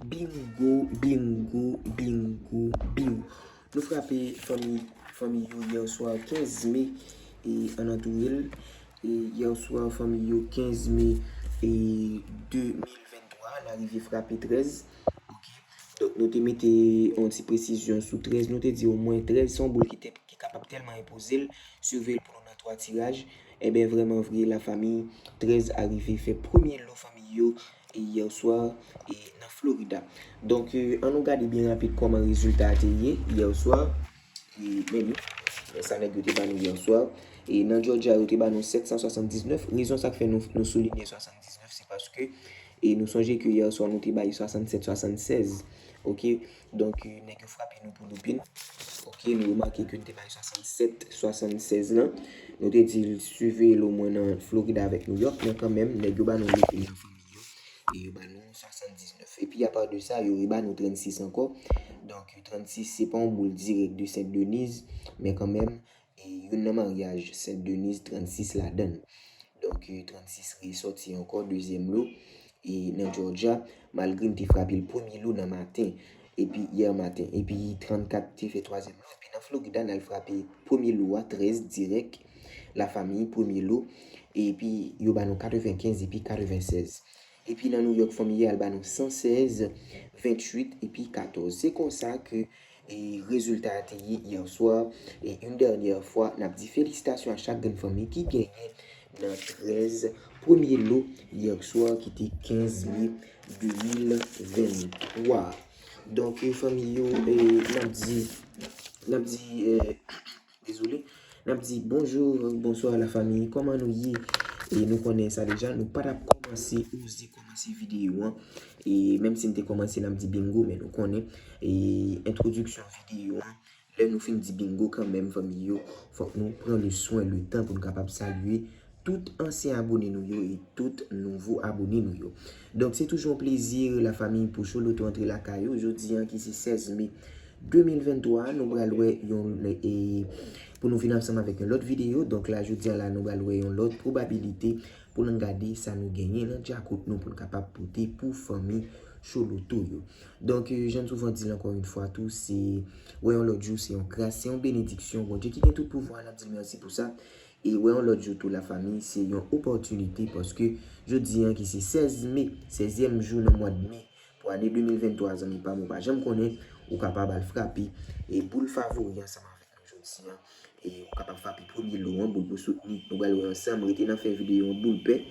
Bingo bingo bingo bingo Nou frape fanmi fanmi yo yèswa 15 me e an nan tou yèl e yèswa fanmi yo 15 me e 2023 an arive frape 13 ok donk nou te mete yon ti presizyon sou 13 nou te di omwen 13 son boul ki kapab tèlman enpoze l sove l pou nou nan 3 tiraj. Enben vrèman vre la famille 13 arive fè premye lo fanmiy yo hier soir nan Florida donk an nou gade byen rapid kòman rezilta a te ye hier soir men li men sa nèg yo te ba nou hier soir nan Georgia yo te ba nou 779 rezon sak fè nou soulinye 79 se paske nou sonje ke hier soir nou te bay 67 76 ok. Donk nèg yo frape nou pou loupin. Ok nou remake ke nou te bay 67, 76 lan. Nou te di l siveye l omwen nan Florida avèk New York. Men kanmenm nèg yo ba nou loupin nan fanmi yo. E yo ba nou 79. E pi apa de sa yo reba nou 36 ankò. Donk 36 se pa yon boul dirèk de Sent Deniz. Men kanmenm E youn nan maryaj Sent Deniz 36 ladan l. Donk 36 resòti ankò dezyèm lo e nan Jòjya malgre m te frape l premye lo nan maten epi yè maten epi 34 te fè twazyèm lo epi nan Florida n al frape premye lo a 13 dirèk lafamiy premye lo epi yo ba nou 95 epi 96 Epi nan Nouyòk fanmi yo al ba nou 116, 28 epi 14. Se konsa ke rezilta a te ye yèswa. E une dernière fois, n ap di felisitasyon a chak grenn fanmi ki genyen nan 13 premye lo yèswa ki te 15 me 2023. Donk fanmi yo, n ap di, n ap di. Désolé Nap di bonjour ak bonsoir la famille Koman nou ye E nou konnen sa deja Nou pa tap komanse Oze komanse video an E menm si nou te komanse Nap di bingo Men nou konnen E introduction video an Lè nou fin di bingo kanmenm fanmi yo Fok nou pran le soin le tan Pou nou kapab salue Tout ansyen abone nou yo e tout nouvo abone nou yo. Donk se toujou yon plezi la famiy pou Choloto antre lakay ou jodi an ki se 16 me 2023 nou pral wè yon e pou nou vin ansanm avèk yon lòt videyo donk la jodi an la nou pral wè yon lòt pwobabilite pou nou gade sa nou genyen nan djakout nou pou nou kapab pote pou fanmi Choloto yo. Donk jan m souvan di l ankò yon fwa tou se wè yon lòt jou se yon gras se yon benediksyon Bondye ki gen tout pouvwa n ap di l mèsi pou sa E wè yon lòt jou tou la fami, se yon opòtinite paske jodi an ki se 16 me, sezyèm jou nan mwad me pou ane 2023 zanmi pam ou pa janm konnen, ou kapab al frape e boul favori ansanm avèk nou jodi an e ou kapab frape premye lo an boul pou soutni, nou pral wè ansanm rete nan fen videyo an boul pè,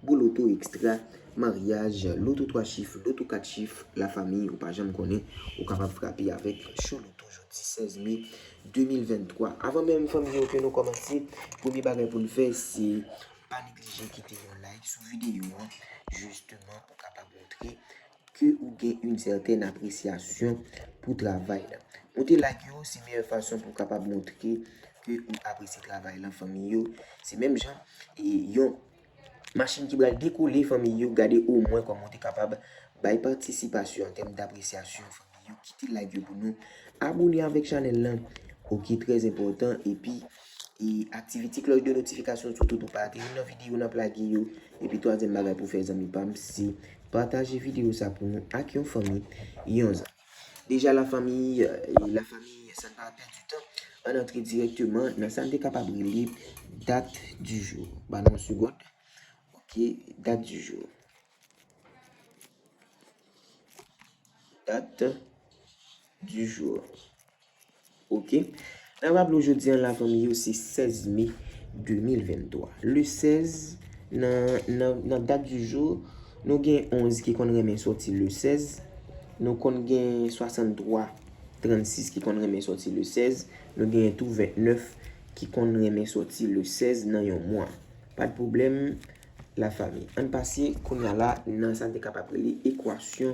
boul oto ekstra, maryaj, loto 3 chif, loto 4 chif la fami ou pa janm konnen, ou kapab frape avèk Chou Loto jodi 16 me 2023. Avan menm fèm di nou ke nou kòmanse, premye bagay pou nou fè se pa neglije kite yon like sou videyo an jisteman pou kapab montre ke ou gen yon sèten apresyasyon pou travay la. Monte like yo se meyè fason pou kapab montre ke ou apresye travay la fanmi yo. Se menm jan yon. Machin ki bral dekole fanmiy yo gade o mwen kòman ou te kapab bay patisipasyon an tèm dapresyasyon fanmiy yo kite like yo pou nou abone avèk chanèl lan ok trè enpòtan epi e aktivite klòch de notifikasyon sou tou pou pa rate youn nan videyo nap lage yo epi twazyèm bagay pou fè zanmi pam se pataje videyo sa pou nou ak yon fanmi yon zanmi. Deja la famille la famille san pa pèdi tan ann antre dirèkteman nan sa n te kapab rele date du jour ba nou yon segond ok date du jour date du jour Ok Nap raple w jodi an la fanmi yo se 16 me 2023 Le 16 nan dat du jour Nou gen 11 ki konn renmen soti le 16 Nou konn gen 63 36 ki konn renmen soti le 16 Nou gen tou 29 ki konn renmen soti le 16 nan yon mwa Pat pwoblèm la fanmi Ann pase kounya la nan sa nou te kapab rele ekwasyon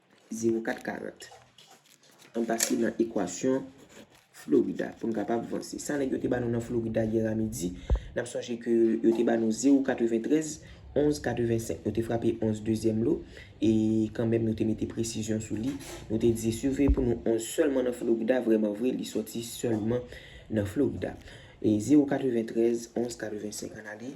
Zewo kat karant. An pase nan ekwasyon Florida pou n kapab vanse. Sa nèg yo te ba nou nan Florida yè a midi, n ap sonje ke yo te ba nou zewo katreventrèz, onz katrevensenk. Nou te frape onz dezyèm lo, e kanmenm nou te mete presizyon sou li. Nou te di, siveye pou nou onz sèlman nan Florida, vreman vre, li soti sèlman nan Florida. E zewo katreventrèz, onz katrevensenk. An ale.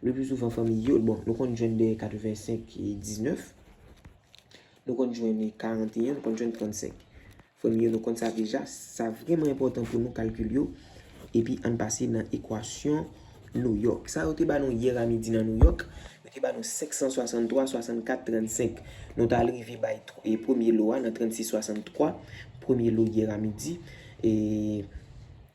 Le plus souvent fanmi yo, bon nou konn jwenn de 85 e 19, nou konn jwenn 41, nou konn jwenn 35. Fanmi yo nou konn sa deja, sa vreman enpòtan pou nou kalkil yo, epi ann pase nan ekwasyon Nouyòk. Sa yo te ba nou yè a midi nan Nouyòk, yo te ba nou 563, 64, 35. Nou ta al rive bay premye lo a nan 36, 63, premye lo yè a midi, e.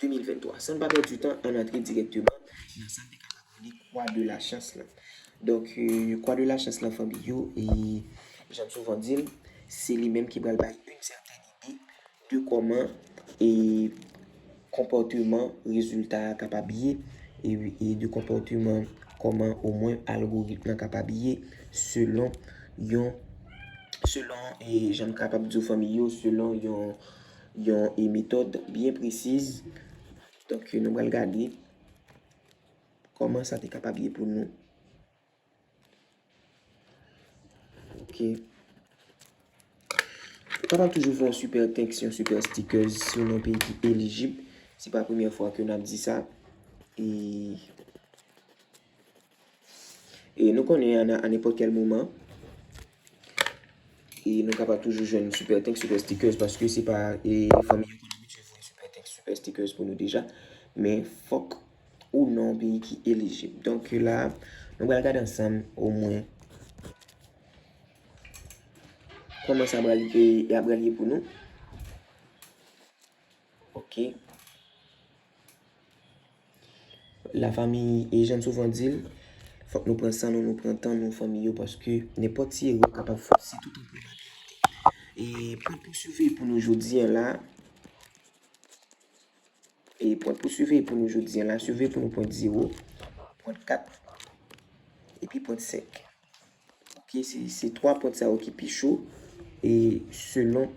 2023. San n pa pèdi tan, ann antre dirèkteman nan sa n te kapab rele Kwa de la Chans lan. Donk, Kwa de la Chans lan fanmi yo, jan n souvan di l, se li menm ki pral bay yon sèten ide de kòman konpòteman rezilta a kapab ye, e de konpòteman kòman omwen algoritm lan kapab ye selon yon, selon, jan n kapab di w fanmi yo, selon yon Yon e metòd byen presiz. Donk nou pral gade kòman sa te kapab ye pou nou. Ok. Ou kapab toujou fè yon super text, yon super sticker si ou nan yon peyi ki elijib. Se pa premye fwa ke n ap di sa. E. E nou konnen a nan anepòt kèl moman, e nou kapab toujou jwenn Super Thanks, Super Stickers, paske se pa e fanmi yo ki abitye voye Super Thanks, Super Stickers pou nou deja, men fòk ou nan yon peyi ki elijib. Donk la, nou pral gade ansanm omwen kòman sa pral e ap pral ye pou nou. Ok. La fami e janm souvan di l, fòk nou pran san nou, nou pran tan nou fanmi yo paske nenpòt ti erè kapab fè si tout anpil bagay rete. E pwen pou swive pou nou jodi an la, e pwen pou swive pou nou jodi an la, swive pou nou pwen 0, pwen 4, epi pwen 5. Ok se 3 pwent sa yo ki pi cho e selon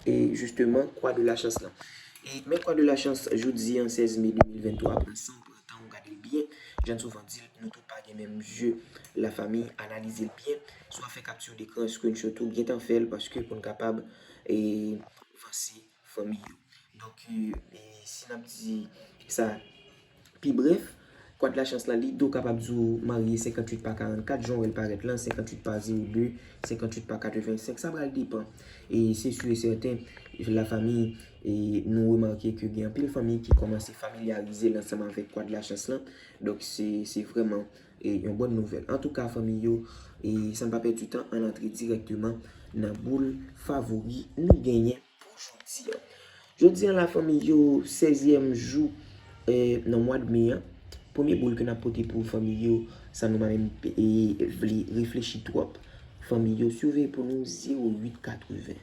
e jisteman kwa de la chans lan. E men kwa de la chans jodi an 16 me 2023 pran san w pran tan w gade l byen jan n souvan di l nou tout pa gen menm zye la fanmi analize l byen swa fè kapti dekran screenshot ou gentan fè l paske pou n kapab e vanse. Fanmi yo. Donk, si n ap di sa pi brèf, kwadlachans la, li do kapab di w marye 58 pa 44, jan w wè l parèt lan, 58 pa 02, 58 pa 85, sa pral depan. E se si e sèten, lafami, nou remake ke gen anpil fanmi ki kòmanse familyarize l ansanm avèk kwadlachans lan. Donk, se vrèman E yon bòn nouvèl. Antouka fanmi yo, e san pa pèdi tan ann antre dirèkteman nan boul favori nou genyen pou jodi an. Jodi an la fanmi yo, sezyèm jou nan mwad me an. Premye boul ke n ap pote pou fanmi yo, san nou pa menm vle reflechi twòp. Fanmi yo, si w veye pou nou 0880.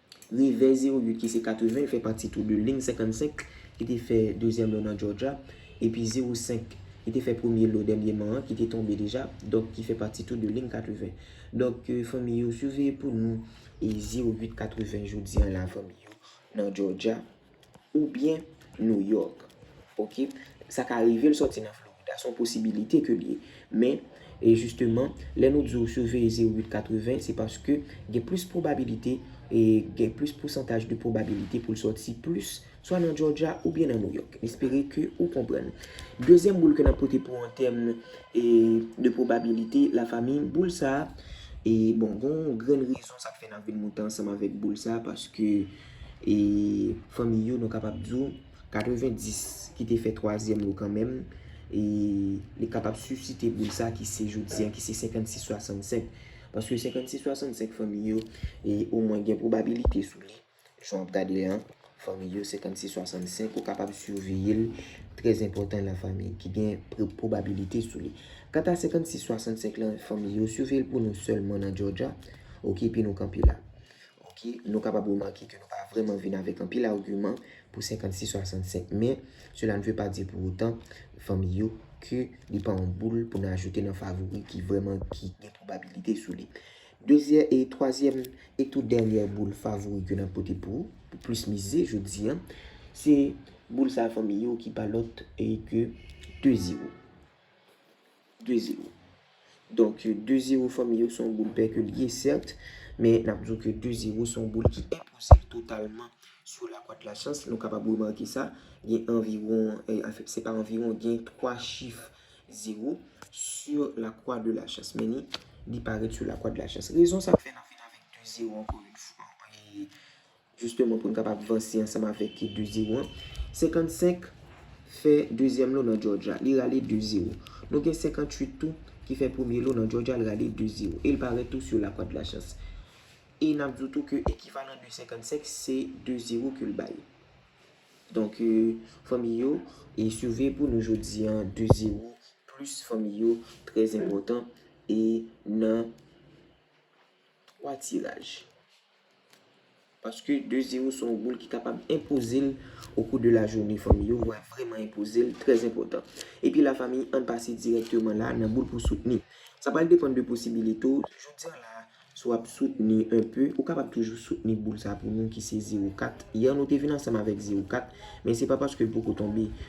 Rivyè Zeruyot ki se 80 l fè pati tou de Ling 55 ki te fè dezyèm lò nan Jòjya epi 05 ki te fè premye lò dènyeman an ki te tonbe deja donk ki fè pati tou de Ling 80 donk fanmi yo siveye pou nou Zeruyot 80 jodi an la fanmi yo nan Jòjya. Oubyen New York. Ok. Sa ka rive l sòti nan Florida. Se yon posibilite ke l ye. Men, e jisteman, lè nou di w siveye 0880, se paske gen plis pwobabilite, e gen plis pousantaj de pwobabilite pou l sòti plis, swa nan Georgia oubyen nan New York. M espere ke ou konprann. Dezyèm boul ke n ap pote pou an tèm e de pwobabilite, la fami, boul sa a, e bon, gen yon grenn rezon sa k fè n ap vin monte ansanm avèk boul sa a, paske. E fanmiy yo nou kapab di w 90 ki te fè twazyèm yo kanmenm e li kapab sisite boul sa ki se jodi an ki se 56 65 paske 56 65 fanmiy yo e o mwen gen pwobabilite sou li jan w ap gade li an fanmiy yo 56 65 ou kapab siveye l trè zenpòtan nan fanmiy ki gen pwobabilite sou li kanta 56 65 lan fanmiy yo siveye l pou nou sèlman nan jòdja ok epi nou kanpe la Ok, nou kapab remake ke nou pa vreman vin avek anpil arguman pou 56 65 men cela ne veut pas dire pour autant fanmi yo ke li pa yon boul pou nou ajoute nan favori ki vreman ki gen probabilite sou li. Dezyè e twazyèm e tou dènyè boul favori ke nap pote pou pou plis mize jodi an se boul sa fanmi yo ki pa lòt ke 2 zero. 2 zero. Donk 2 zero fanmi yo son boul pèke li ye sèrt, men nap di w ke 2 zero son boul ki enpoze totalman sou la kwat la chans, nou kapab remake sa, gen anviwon, anfèt se pa anviwon, gen 3 chif zero sou la kwa de la chans, men li parèt sou la kwa de la chans. Rezon sa k fè nan fini avèk 2 zero ankò yon fwa. Jisteman pou n kapab vanse ansanm avèk ki 2 zewo an. 55 fè dezyèm lo nan Jòjya, li rale 2 zewo. Nou gen 58 tou ki fè premye lo nan Jòjya, l rale 2 zewo. E l parèt tou sou lakwadlachans. E n ap di w tou ke ekivalan de 55 se 2 zewo ke l bay. Donk, fanmi yo, e siveye pou nou jodi an, 2 zewo plis fanmi yo trè enpòtan e nan 3 tiraj. Paske 2 zero son boul ki kapab enpoze l o kou de la joune fanmi yo vwa vreman enpoze l trè enpotan. Epi la fanmi ann pase dirèkteman la nan boul pou soutni. Sa pral depann de posibilite w jodi an la si w ap soutni enpe ou kapab toujou soutni boul sa pou nou ki se zero kat yè nou te vin ansanm avèk zero kat men se pa paske l poko tonbe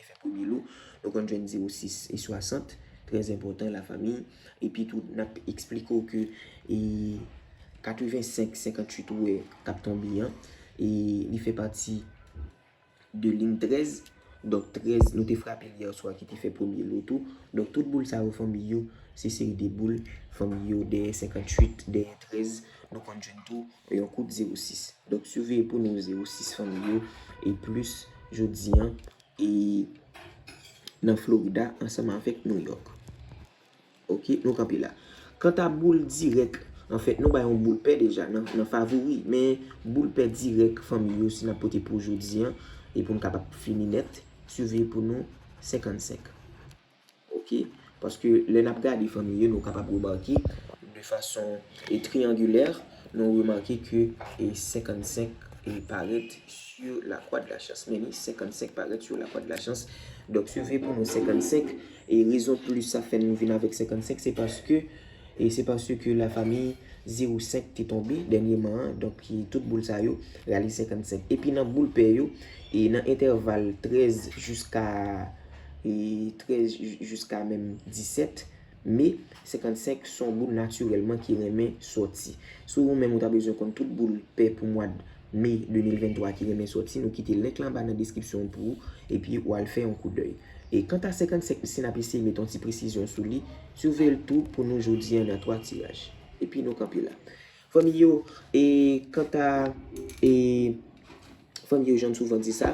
Te fè premye lo, nou konn jwenn 0 6 e 60, trè enpòtan la fami, epi tou nap esplike w ke e 85 58 ou wè kap tonbe an, e li fè pati de lign 13, donk 13 nou te frape l yèswa ki te fè premye lo tou, donk tout boul sa yo fanmi yo, se seri de boul fanmi yo dèyè 58 dèyè 13. Nou konn jwenn tou yon kout 06. Donk siveye pou nou 06 fanmi yo e plis jodi an e nan Florida ansanm avèk New York. Ok, nou kanpe la. Kanta boul dirèk, anfèt nou bay yon boul pè deja nan favori, men boul pè dirèk fanmi yo si n ap pote pou jodi an e pou n kapab fini nèt, siveye pou nou 55. Ok. Paske lè n ap gade fanmi yo nou kapab remake de fason triyangilè, nou remake ke 55 parèt sou lakwa de la chans. Men ni 55 parèt sou lakwa de la chans. Donk, swive pou nou 55. E rezon plis sa fè nou vin avèk 55 se paske. E se paske la fami zero 5 te tonbe dènyeman an, donk tout boul sa yo rale 55. Epi nan boul pè yo, e nan entèval 13 jiska 13 jiska menm 17 me, 55 se yon boul natirèlman ki renmen sòti. Si ou menm ou ta bezwen konn tout boul pè pou mwad me 2023 ki renmen sòti, nou kite link la anba nan deskripsyon an pou ou, epi ou al fè yon koudèy. E kanta 55 si n ap eseye met yon ti presizyon sou li, Sove l tou pou nou jodi an nan 3 tiraj. Epi nou kanpe la. Fanmi yo, e kanta e fanmi yo jan m souvan di sa,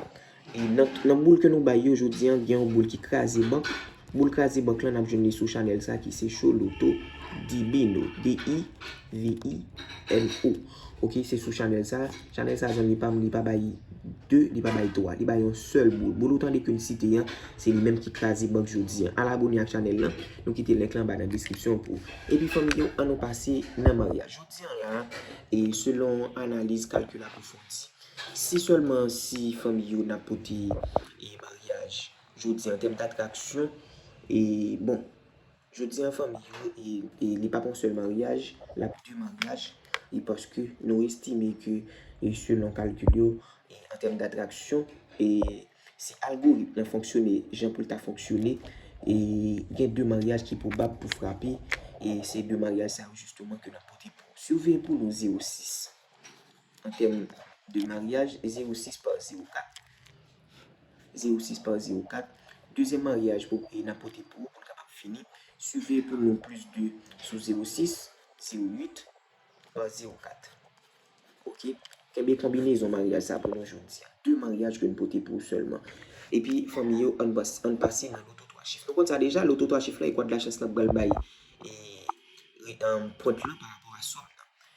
e nan boul ke nou bay yo jodi an, gen yon boul ki kraze bank. Boul kraze bank lan n ap jwenn li sou chanèl sa ki se Choloto Divino, D-i-v-i-n-o. Ok se sou chanel sa. Chanel sa zanmi pam li pa bay 2 li pa bay 3 li bay yon sèl boul. Boul ou tande ke m site an se li menm ki kraze bank jodi an. Al abone ak chanel lan nou kite link lan anba nan deskripsyon pou. Epi fanmi yo an nou pase nan maryaj. Jodi an la e selon analiz kalkil ak reflechi. Si sèlman si fanmi yo nan pote e maryaj jodi an tèm datraksyon e bon. Jodi an fanmi yo e li pap yon sèl maryaj, lap de maryaj e paske nou estime ke selon kalkil yo an tèm datraksyon e si algorit lan fonksyone jan pou l ta fonksyone e gen de maryaj ki pwobab pou frape e se de maryaj sa yo jisteman ke nap pote pou ou. Siveye pou nou 06. An tèm de maryaj, zewo sis pa zewo kat. Zewo sis pa zewo kat. Dezyèm maryaj pou e na pote pou ou pou n kapab fini. Siveye pou nou plis de sou zewo sis, zewo uit, pa zewo kat. Ok. Kenbe konbinezon maryaj sa pou nou jodi a. De maryaj ke n pote pou ou sèlman. Epi fanmi yo, an n pase nan loto twa chif. Nou konn sa deja, loto twa chif la e kwadlachans lan pral bay e pwent lan pa rapò a sòm nan.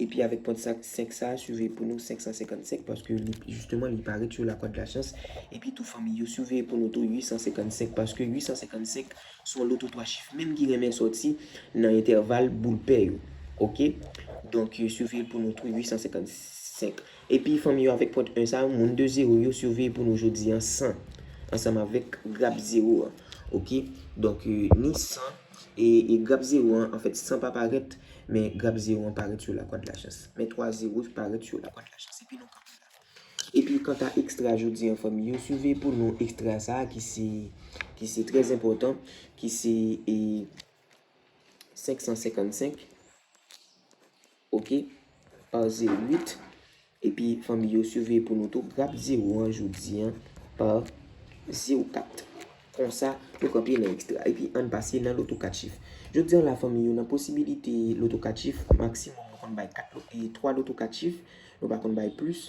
Epi avèk pwent 5 sa a suveye pou nou 555 paske li jisteman li paret sou la kòd la syans epi tou fanmi yo suveye pou nou tou 855 paske 855 son loto 3 chif menm ki renmen sòti nan entèval boul pè yo ok donk suveye pou nou tou 855 epi fanmi yo avèk pwent 1 sa a moun 2 zero yo suveye pou nou jodi an 100 ansanm avèk grap zero an ok donk ni 100. E grap zero an, an fèt san pa parèt, men grap zero an parèt sou lakwa de la chans. Men 3 zero ki parèt sou lakwa de la chans. Epi nou kanpe la. Epi kanta ekstra jodi an fanmi yo, siveye pou nou ekstra sa a ki se, ki se trè zenpòtan, ki se e 555. Ok par 08 epi fanmi yo suveye pou nou tou grap 0 an jodi an par 04 konsa nou kanpe nan extra epi ann pase nan loto 4 chif jodi an la fanmi yo nan posibilite loto 4 chif maksimòm nou konn bay 3 loto 4 chif nou pa konn bay plis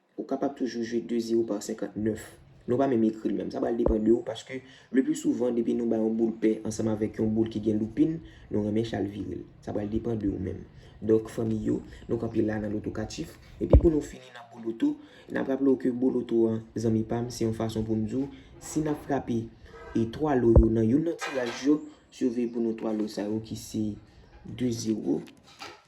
Ou kapab toujou jwe 2 zero par 59. Nou pa menm ekri l menm. Sa pral depan de ou paske le pli souvan depi nou bay yon boul pè ansanm avèk yon boul ki gen loupin, nou renmen chal vire l. Sa pral depan de ou menm. Donk fanmi yo, nou kanpe la nan loto katif. Epi pou nou fini nan boloto, n ap raple ou ke boloto an zanmi pa m se yon fason pou m di w si n ap frape e 3 lo yo nan youn nan tiraj yo, si w veye pou nou 3 lo sa yo ki se 2 zero.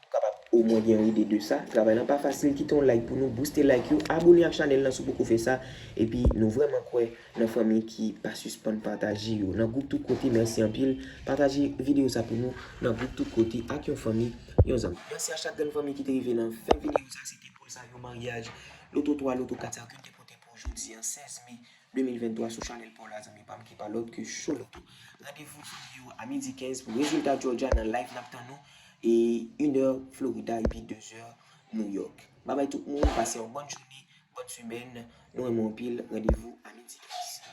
Ou kapab omwen gen yon ide de sa. Travay lan pa fasil kite yon like pou nou, bouste like yo, abone ak chanèl lan si w poko fè sa, epi nou vrèman kwè nan fanmi ki pa sispann pataje yo nan gwoup tout kote mèsi anpil pataje video sa pou nou nan gwoup tout kote ak yon fanmi yon zanmi mèsi a chak grenn fanmi ki te rive nan fen video sa se te poul sa yon maryaj loto 3 loto 4 sa yo ke m te pote pou w jodi an 16 mai 2023 sou chanèl paw la zanmi pam ki pa lòt ke Showlito. Randevou jodi yo a midi 15 pou rezilta Georgia nan live nap tann nou e 1 è Florida epi 2 zè New York. Babay tout moun pase yon bòn jounen, bòn semèn, nou renmen w anpil, randevou a midi 15.